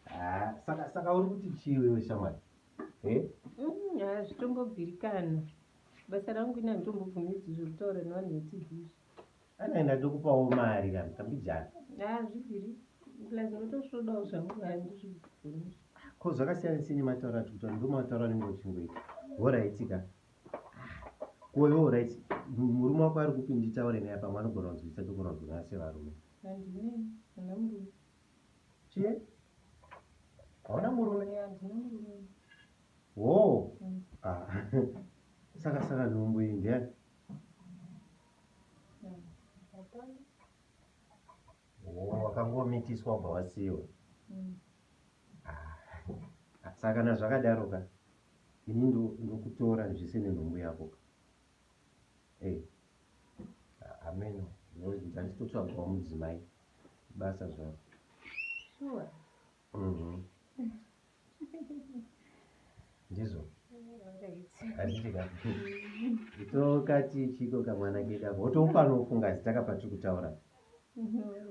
Ah, saka saka uri kuti chii wewe shamwari eh? Mm, hazvitombobvirikana basa rangu ina nditombobvumidzwi zvekutaura nevanhu vetv izvi anaenda ndokupawo mari kana tambijana hazvibviri plus ndotosvodawo zvangu handizvibvunizvi ko zvakasiyana sei nemataura ati kutaura ndomataura anenge uchingoita horaitika koiwo horaiti murume wako ari kupi nditaure naye pamwe anogona kunzwisisa togona kunzwisana sevarume Handine hana murume. Chii? Hauna murume? Eh, handina murume. Wo. Mm. Ah. saka saka nhumbu iyi ndiyani? Mm. Hapana. Wo, wakangomitiswa wabva wasiiwa. Mm. Ah. Saka na zvakadaro ka. Ini ndokutora zvese nenhumbu yako ka. hameno ndanditotsvagwa mudzimai basa zvaro sure. mm -hmm. ndizvo tokati chiko kamwana kedako wotoufanira kufunga zita kapatiri kutaura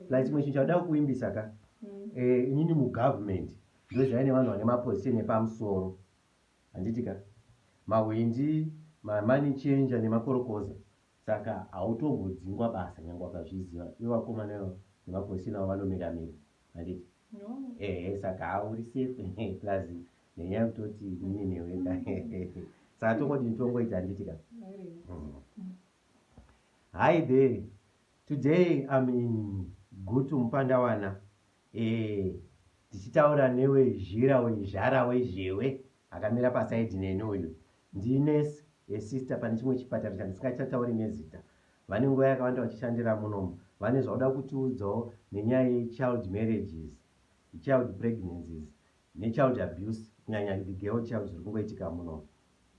plus chimwe chinhu chauda kuimbisa ka mm. eh, inini mugovernment ndozvaive nevanhu vane maposition epamusoro Handiti ka? Mahwindi, ma money changer nemakorokoza saka hautombodzingwa basa nyangwe wakazviziva ivo vakomana ivo nemapozisheni avo vanomira mira handiti? No. Ehe saka haa uri safe plus nenyaya yekutoti nini newe ka saka tongodini tongoita handiti ka? Mm. Hi there. Today I'm in Gutu Mupandawana Eeh tichitaura newe zhira uyu zhara wezhewe akamira paside neni uyu ndi nurse ye sister pane chimwe chipatara chandisingachatauri nezita vane nguva yakawanda vachishandira munomu vane zvauda kutiudzawo nenyaya ye child marriages child pregnancies ne child abuse kunyanya the girl child zviri kungoitika munomu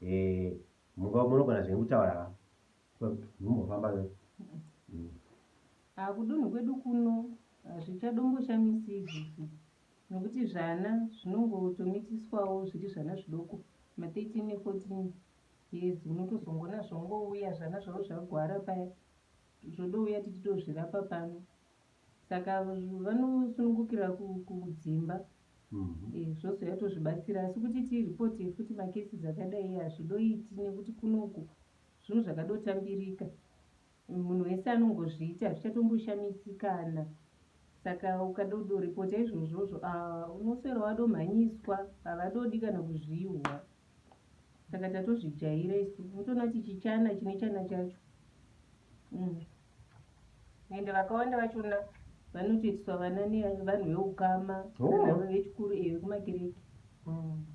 eeh munogona zvenyu kutaura Mumbofamba ne. Ah kudunhu kwedu kuno hazvichadomboshamisi izvozvo nokuti zvana zvinongotomitiswawo zviri zvana zvidoko ma 13 ne 14 years unotozongona zvongouya zvana zvavo zvagwara paya zvodouya titi tozvirapa pano saka vanosunungukira kudzimba mhm. eh, zvozoya tozvibatsira asi kuti tiripoti futi makesi dzakadai hazvidoiti nekuti kunoku Zvinhu zvakadotambirika munhu wese anongozviita hazvichatomboshamisikana saka ukadodoripota izvozvozvo ah, unoswera wadomhanyiswa havadodi kana kuzvihwa saka tatozvijaira isu unotoona kuti chichana chine chana chacho mm. ende vakawanda vachona vanotoitiswa vana nevanhu veukama oh. vechikuru iyo vekumakereke hmm.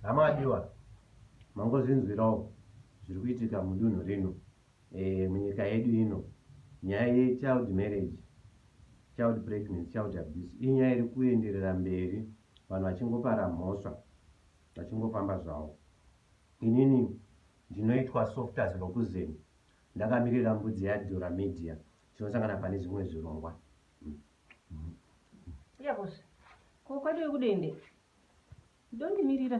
hama adiwa mangozvinzwirawo zviri kuitika mudunhu rino eh, munyika yedu ino nyaya yechild marriage child pregnancy child abuse inyaya iri kuenderera mberi vanhu vachingopara mhosva vachingofamba zvavo inini Ndinoitwa soft as Lokuzen ndakamirira mbudzi ya Dura Media tinosangana pane zvimwe zvirongwa. Iya boss. Ko kwadiwe kudende. Ndondimirira.